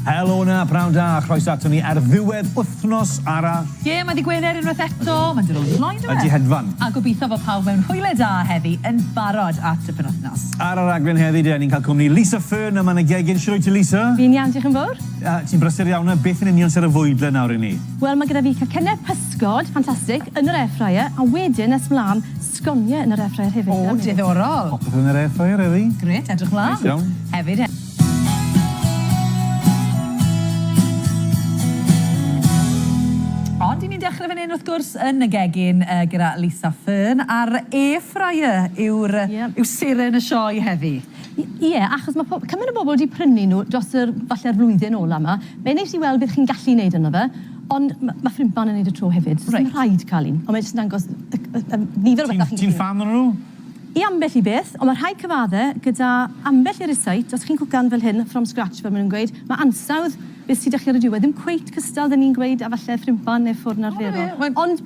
Helo na, prawn da, a chroes ato ni ar ddiwedd wythnos arall. Ie, yeah, mae di Gwener unwaith eto, mae'n dod o flaen dweud. Ydy hedfan. A gobeithio bod pawb mewn hwyle da heddi yn barod at y penwythnos. Ar y raglen heddi, da ni'n cael cwmni Lisa Fern yma yn y gegin. Sut ti, Lisa? Fi'n iawn, diolch yn fawr. Uh, ti'n brysur iawn, a beth yn union sy'n y fwydle nawr i ni? Wel, mae gyda fi cacennau pysgod, ffantastig, yn yr air fryer, a wedyn nes mlaen Sgoniau yn yr air fryer hefyd. O, diddorol! Popeth yn yr air fryer heddi. Grêt, edrych mlan. Neis iawn. Hefyd he-. Ond i ni'n dechrau fan hyn wrth gwrs yn y gegin yy gyda Lisa Fearn a'r air fryer yw'r yy... Ie. ...yw seren y sioe heddi. I- ie achos ma' po- cymaint o bobl 'di prynu nhw dros yr falle'r flwyddyn ola 'ma. Be' nes i weld bydd chi'n gallu neud ynddo fe Ond ma' ma' Ffrimplan yn neud y tro hefyd. Reit. Sdim rhaid cael un, ond mae e jyst yn dangos y y y nifer o betha chi'n gallu... Ti'n ti'n ffan onyn nhw? I ambell i beth, ond mae rhai cyfadde gyda ambell i recipe, os chi'n cwcan fel hyn from scratch fel ma' nhw'n gweud, ma' ansawdd beth sy 'da chi ar y diwedd ddim cweit cystal 'da ni'n gweud a falle Ffrimplan neu ffwrn arferol. O na fe, mae'n... Ond...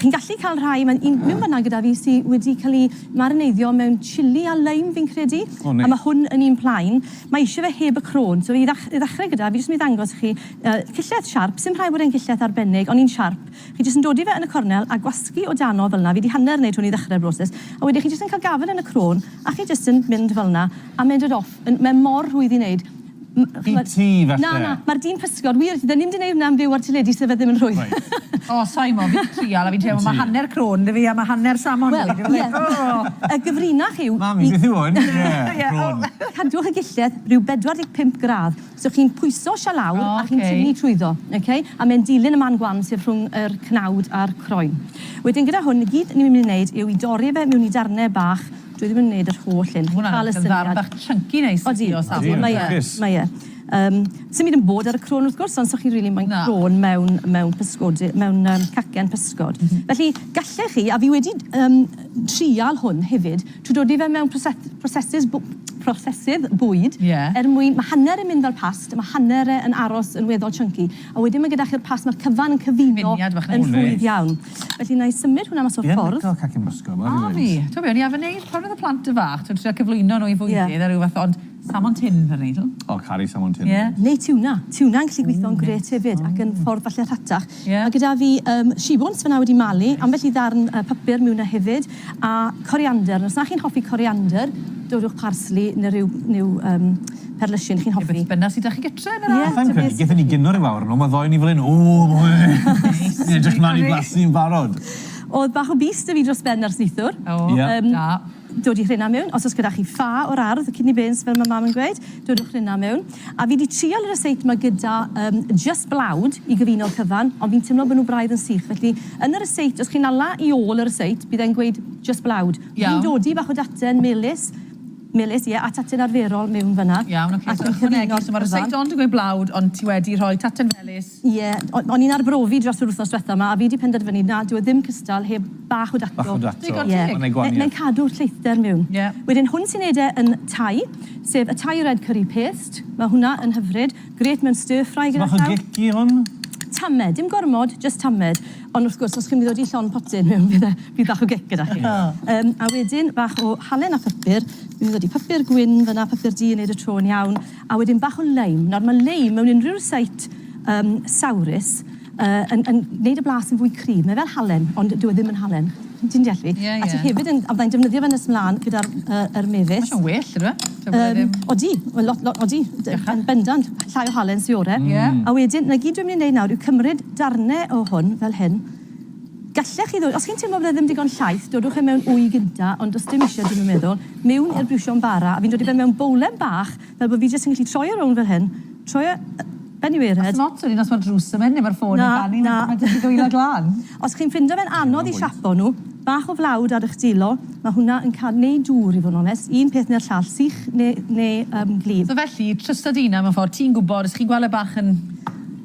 Chi'n gallu cael rhai mae'n un mewn fanna gyda fi sy wedi cael ei marineiddio mewn chili a lime fi'n credu. O neis. A ma' hwn yn un plaen. Mae eisiau fe heb y crôn. So i ddach- i ddechrau gyda fi jyst mynd i ddangos i chi yy cillell siarp, sim rhaid bod e'n gillell arbennig ond un siarp. Chi jyst yn dodi fe yn y cornel a gwasgu o dano fel 'na, fi 'di hanner neud hwn i ddechrau'r broses, a wedyn chi jyst yn cael gafel yn y crôn a chi jyst yn mynd fel 'na a mynd it off. Yn- mae mor rhwydd i neud. Bydd ch'mod... Ti falle. Na, na, ma'r dyn pysgod, wir, 'dyn ni'm 'di neud hwnna am fyw ar teledu so fe ddim yn rhwydd. Reit. O, sai 'mod, fi'n trial a fi'n teimlo ma' hanner crôn 'da fi a ma' hanner salmon 'da fi, dwi fel 'o! Wel, ie, y gyfrinach yw i... Mam, beth yw hwn? Ie, crôn. Cadwch y gillell ryw 45 gradd, so chi'n pwyso isia lawr... O, oce. ...a chi'n tynnu trwyddo, oce? A mae'n dilyn y man gwan sydd rhwng yr cnawd a'r croen. Wedyn gyda hwn, i gyd ni myn' i neud yw i dorri fe miwn i darne bach Dwi ddim yn neud yr holl un. Chi'n ca'l y syniad. Ma' hwnna yn ddarn bach chunky neis i chi o safon. Odi, mae'n lwcus. Mae e, mae e. Yym, sim byd yn bod ar y crôn wrth gwrs, ond 'sa chi'n rili moyn crôn mewn mewn pysgodi- mewn yym cacen pysgod. Felly, gallech chi, a fi wedi d- yym trial hwn hefyd, trwy dodi fe mewn proset- prosesus bw- prosesydd bwyd. Ie. Er mwyn, ma' hanner yn mynd fel past, ma' hanner e yn aros yn weddol chunky, a wedyn ma' gyda chi'r past, ma'r cyfan yn cyfuno. Cyfuniad bach neis. Yn rhwydd iawn. Felly wna i symud hwnna mas o'r ffordd. Ie, lico cacen Moscow, mor wych. A fi. T'o' be' o'n i arfer neud pan oedd y plant yn fach, t'o' trio cyflwyno nhw i fwydydd... Ie. ...a ryw fath ond salmon tins o'n i'n neud. O, caru salmon tins. Ie. Neu tiwna. Tiwna'n gallu gweithio'n grêt hefyd ac yn ffordd falle rhatach. Ie. Ma' gyda fi yym shibwns fan'na wedi malu, ambell i ddarn yy papur miwn 'na hefyd. A coriander, os na chi'n hoffi coriander, dowrwch parsli neu ryw new yym perlysiyn chi'n hoffi. Ne' beth bynnag sy' 'da chi gytre yn yr ardd. Sai'n credu gethon ni gino ryw awr yn ôl, ma' ddoe ni fel 'yn, Ni'n edrych mlan i blasu yn barod. O'dd bach o bys 'da fi dros ben ar slithwr. O, da. Dod i rhena mewn. Os o's gyda chi ffa o'r ardd, kidney beans fel ma' mam yn gweud, dodwch rhena mewn. A fi 'di trial y resept 'ma gyda yym jyst blawd i gyfuno'r cyfan, ond fi'n timlo bo' nhw braidd yn sych. Felly, yn y resept, os chi'n ala i ôl y resept, bydd e'n gweud jyst blawd. Fi'n Iawn. dodi bach o daten melys, melys, ie, a taten arferol mewn fan'na. Iawn, ocê, so ychwanegu, so ma'r resept ond yn gweud blawd, ond ti wedi rhoi taten felys Ie, o'n i'n arbrofi dros yr wythnos diwetha 'ma a fi 'di penderfynu na, dyw e ddim cystal heb bach o dato. Bach o dato. Digon teg. Ie. Ma'n neud gwanieth. Mae'n cadw'r lleithder miwn. Ie. Wedyn hwn sy'n neud e yn Thai, sef y Thai red curry paste. Ma' hwnna yn hyfryd. Grêt mewn stir ffrae gyda llaw. So bach o gic i hwn? Tamed, dim gormod, jyst tamed. Ond wrth gwrs, os chi'n mynd i ddod i llond potyn miwn fydd e, bydd bach o gic gyda chi. O. Yym, a wedyn bach o halen a pupur. Fi'n mynd i ddod i pupur gwyn fynna, pupur du yn neud y tro yn iawn. A wedyn bach o leim. Nawr mae leim mewn unrhyw rysáit um, sawrus uh, yn, yn gwneud y blas yn fwy cryf. Mae fel halen, ond dyw e ddim yn halen. Ti'n deall fi? Yeah, yeah. A ti hefyd yn... A byddai'n defnyddio fe nes mlaen gyda'r uh, er mefus. Mae'n well, ydw e? Um, odi, lot, lot, odi. Yn bendant, llai o halen sy'n orau. Yeah. A wedyn, na gyd dwi'n mynd i wneud nawr yw cymryd darnau o hwn fel hyn, Gallech chi ddod, os chi'n teimlo fydde ddim digon llaith, dodwch e mewn wy gynta, ond does dim isio, dwi'm yn meddwl, miwn i'r briwsion bara, a fi'n dod i ben mewn bowlen bach, fel bod fi jyst yn gallu troi e rownd fel hyn, troi e ben iw ered. A sdim ots wedyn os mae'r drws yn mynd neu mae'r ffôn yn canu, mae jyst yn dwylo glân. Os chi'n ffindo fe'n anodd i siapo nhw, bach o flawd ar eich dulo, mae hwnna yn canu, neu dŵr i fod yn onest, un peth neu'r llall, sych neu gwlyb. So felly, trwsta dy hunan mewn ffordd, ti'n gwybod, os chi'n gweld e bach yn...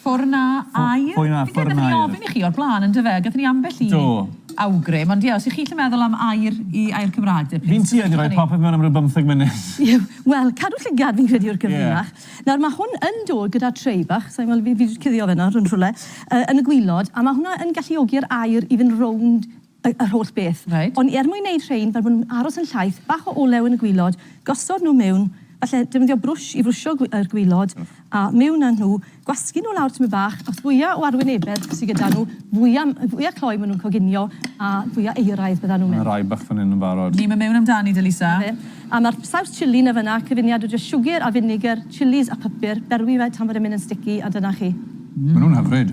Ffwrn na aer? Ffwrn na aer. Fi'n credu gathon ni ofyn i chi o'r blaen yndyfe? Gathon ni ambell i... Do. ...awgrym ond ie os 'ych chi isie meddwl am aer i aer Cymraeg de plîs. Fi'n tuedd i roi popeth mewn am ryw bymtheg munud. Ie wel cadw llygad fi'n credu yw'r cyfrinach. Ie. Nawr ma' hwn yn dod gyda tray bach, sai'n gweld fi fi 'di cuddio fe nawr yn rhwle yy yn y gwilod a ma' hwnna yn galluogi'r aer i fynd rownd y, yr holl beth. Reit. Ond er mwyn neud rhein fel bo nhw'n aros yn llaith, bach o olew yn y gwilod, gosod nhw miwn, falle defnyddio brwsh i frwsio gwi- yr gwilod, a miwn â nhw, gwasgu nhw lawr tymed bach, a fwya o arwynebedd sy gyda nhw, fwya, fwya cloi ma' nhw'n coginio, a fwya euraidd bydda nhw'n mynd. Ma' 'na rai bach fan 'yn yn barod. Ni'm yn miwn amdani, de Lisa. 'Na fe. A ma'r saws chilli 'na fynna, cyfuniad o jyst siwgr a finegr, chilis a pupur, berwi fe tan fod e'n mynd yn sticky, a dyna chi. Ma' nhw'n hyfryd.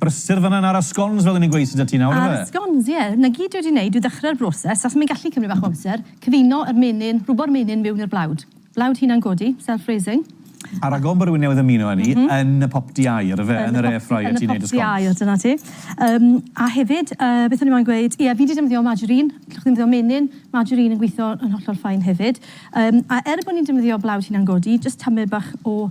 Brysur fanna yn aros scones fel o'n i'n gweud sydd 'da ti nawr yfe? Aros scones ie. 'na gyd dwi wedi neud yw ddechrau'r broses achos mae'n gallu cymryd bach o amser, cyfuno yr menyn, rhwbo'r menyn miwn i'r blawd. Blawd hunan godi, self raising. A ragor o bwrw newydd ymuno â ni yn y popty aer yfe? Yn yr air fryer ti'n neud y scones. Yn y popty aer dyna ti. Yym a hefyd yy beth o'n i moyn gweud ie fi 'di defnyddio margarine, allwch chi ddefnyddio menyn, margarine yn gwitho yn hollol fine hefyd. Yym a er bo' ni'n defnyddio blawd hunan godi jyst tamed bach o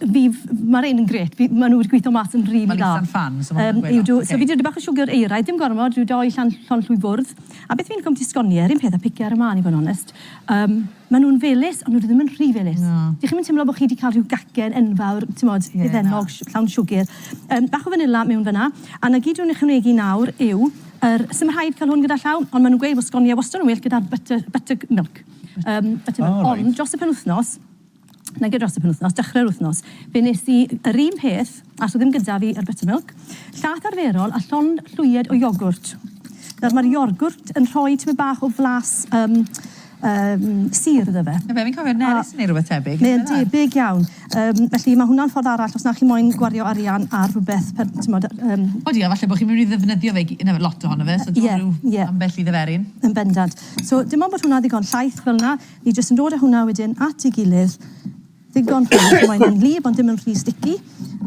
Fi f- ma' rein yn grêt fi ma' nhw wedi gweitho mas yn rili dda. Ma'n itha'n ffan so ma' hwnna'n gweud lot. Yym yw do so fi 'di roi bach o siwgr euraidd dim gormod rhyw dou llan- llonllwy fwrdd a beth fi'n licio'mbyti sgonie yr un peth a pice ar y man i fo' yn onest yym ma' nhw'n felys ond nw ddim yn rhy felys. Na. Dych chi'm yn timlo bo' chi 'di ca'l rhyw gacen enfawr t'mod difennog sh- llawn siwgr. Yym bach o fanila mewn fan 'na a 'na gyd dwi'n ychwanegu nawr yw yr sim rhaid ca'l hwn gyda llaw ond ma' nw'n gweud bo' sgonie wastod yn well gyda'r butter butterg- milk yym butter milk... O reit. ...ond dros y penwthnos nage dros y penwythnos, dechrau'r wythnos, fe wnes i yr un peth, a so ddim gyda fi yr buttermilk, llaeth arferol a llond llwyed o iogwrt. Nawr mae'r iogwrt yn rhoi tymed bach o flas um, um, sir iddo fe. Fe, fi'n cofio nerys neu rhywbeth tebyg. Mae'n debyg iawn. Um, felly mae hwnna'n ffordd arall os na chi moyn gwario arian ar rhywbeth, per, tymod... Um... O di, a falle bod chi'n mynd i ddefnyddio fe, yna lot ohono fe, so dwi'n yeah, rhyw yeah. ambell i ddeferyn. Yn bendant. So dim ond bod hwnna ddigon llaeth fel yna, Ni jyst yn dod a hwnna wedyn at ei gilydd ddigon hwyr, pan mae hi'n wlyb ond ddim yn rhy sticky,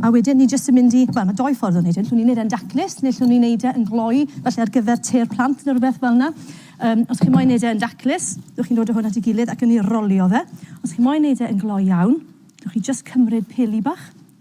a wedyn ni jyst yn mynd i... Wel, mae dou ffordd o wneud hyn, allwn ni wneud e'n daclus, neu allwn ni wneud e yn gloi, falle ar gyfer te'r plant neu rywbeth fel 'na. Yym, os chi moyn wneud e yn daclus, dewch chi'n dod â hwn at ei gilydd ac yn ei rolio fe. Os chi moyn wneud e yn gloi iawn, dewch chi jyst cymryd peli bach,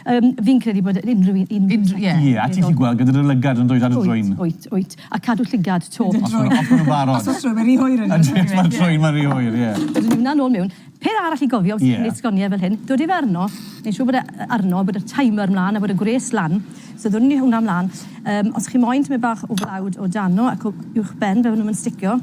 Yym, fi'n credu bod yy unrhyw un unrhyw un... Ie. Ie, a ti'n gallu gweld gyda dy lygad yn dweud ar y drwyn. Wyt, wyt, wyt. A cadw llygad 'to. Os ma' nhw, os ma' nhw'n barod. Os o's trwyn, mae'n rhy hwyr yn dydw? Os ma'n trwyn, mae'n rhy hwyr, ie. Dwi myn' i wnna nôl miwn. Peth arall i gofio wrth... Ie. ...neud sgoniau fel hyn, dod â fe arno, neud siŵr bod e yy arno, bod y timer mlan a bod y gwres lan. So ddwn ni hwnna mlan. Yym, os chi moyn tymed bach o flawd o dano ac o uwchben fe, fy' nhw'm yn sticio.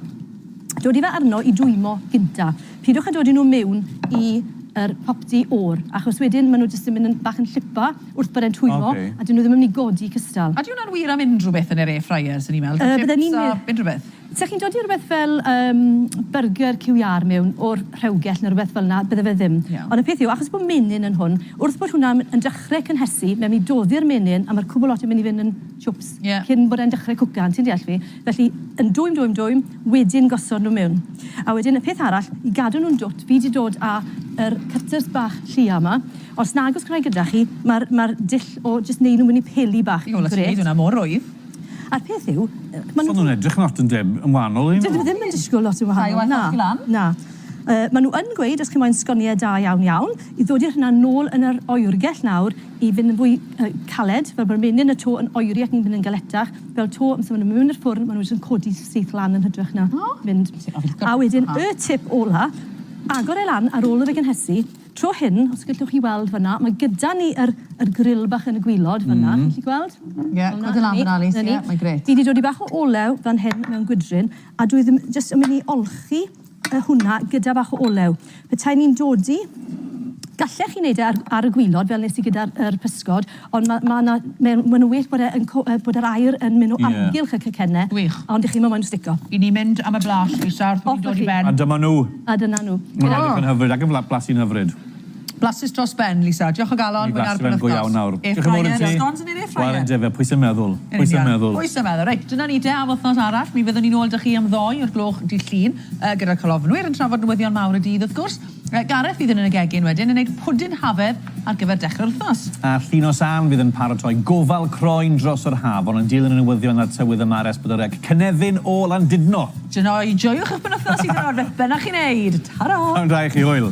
Dod â fe arno i dwymo gynta. Pidwch a dodi nhw miwn i yr popty o'r, achos wedyn ma' nhw jyst yn mynd yn bach yn llipo wrth bod e'n twyllo. Oce. A dyn nhw ddim yn mynd i godi cystal. A 'di hwnna'n wir am unrhyw beth yn yr air fryer, swn i'n meddwl? Yy bydden i'n me-... Chips a unrhyw beth? Sa chi'n dodi rwbeth fel yym byrgyr QER miwn o'r rhewgell ne' rwbeth fel 'na, bydde fe ddim. Iawn. Ond y peth yw, achos bo' menyn yn hwn, wrth bod hwnna yn dechre cynhesu, mae myn' i doddi'r menyn a ma'r cwbwl lot yn myn' i fyn' yn chwps. Ie. Cyn bod e'n dechre cwcan, ti'n deall fi? Felly yn dwym dwym dwym. wedyn gosod nhw mewn a wedyn y peth arall i gadw nhw'n dwt fi di dod a yr cutters bach llia ma os nag os gwna i gyda chi ma'r ma'r dull o jyst neud nhw myn i peli bach yn grêt. Neud hwnna mor rwydd. A'r peth yw ma nhw. So nhw'n edrych lot yn dem- yn wahanol un. Dydyn nhw ddim yn disgwl lot yn wahanol na na yy ma nhw yn gweud os chi moyn sgonie da iawn iawn i ddod i'r hynna nôl yn yr oergell nawr i fynd yn fwy yy caled fel bod y menyn y to yn oeri ac yn mynd yn galetach Fel to, amser ma' nw mewn i'r ffwrn ma' nw jyst yn codi syth lan yn hytrach na... O! ...mynd. A wedyn y tip ola, agor e lan ar ôl i fe gynhesu. Tro hyn, os gellwch chi weld fan 'na, ma' gyda ni yr yr gril bach yn y gwilod fan 'na. Chi'n gallu gweld? Ie, cwrdd e lan fan 'na Lis, ie, mae'n grêt. Fi 'di dodi bach o olew fan hyn mewn gwydryn, a dwi ddim jyst yn myn' i olchi a hwnna gyda bach o olew. Petai ni'n dodi, gallech chi wneud e ar, ar y gwylod fel nes i gyda'r er pysgod, ond mae ma yna, mae'n ma wych bod, e yn, bod yr aer yn mynd o yeah. amgylch y cacennau, wych. ond dych chi'n mynd moyn stico. I ni mynd am y blas, Lisa, wrth i ni dod i ben. A dyma nhw. A dyna nhw. Mae'n edrych yn hyfryd, ac yn blasu yn hyfryd. Blasus dros ben, Lisa. Diolch o galon. Mi blasu fe'n go iawn nawr. Diolch yn fawr i ti. Scones yn yr air fryer. Wel yndyfe, pwy sy'n meddwl? Yn union. Pwy sy'n meddwl? Pwy sy'n meddwl? Reit, dyna ni de, am wythnos arall. Mi fyddwn ni'n ôl 'da chi am ddoi o'r gloch dydd Llun, gyda'r colofnwyr yn trafod newyddion mawr y dydd, wrth gwrs. Gareth fydd yn yn y gegin wedyn yn neud pwdin hafedd ar gyfer dechrau'r wythnos. A Llinos Ann fydd yn paratoi gofal croen dros yr haf, ond yn dilyn y newyddion a'r tywydd yma ar Esbydol Rec, cynefin o Landudno! Dyna i, joiwch eich penwythnos hyd yn oed beth bynnag chi'n neud. Tara! P'nawn da i chi, hwyl!